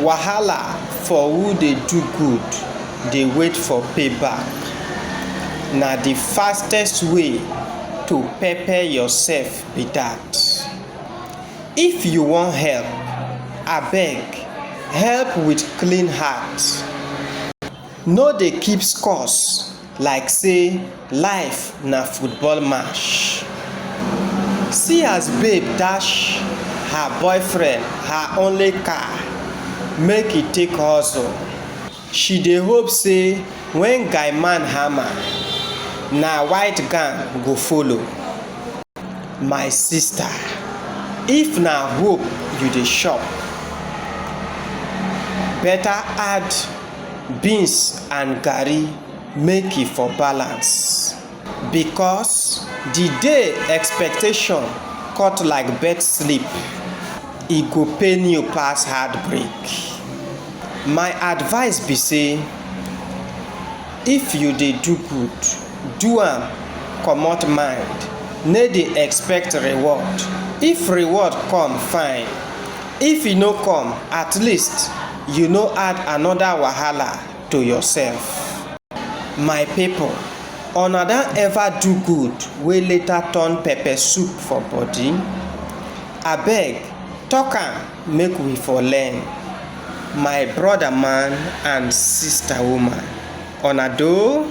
Wahala for who dey do good dey wait for pay back na the fastest way to pepper yourself be that if you wan help abeg help with clean heart no dey keep scores. like say life na football match See as babe dash her boyfriend her only car make he take hustle She dey hope say when guy man hammer na white gown go follow My sister, if na hope you dey shop better add beans and garri make e for balance because the day expectation cut like bird sleep e go pain you pass heartbreak my advice be say if you dey do good do am comot mind no dey expect reward if reward come fine if e no come at least you no add another wahala to yourself. My people una don ever do good wey later turn pepper soup for body? Abeg talk am make we for learn my brother man and sister woman una doh.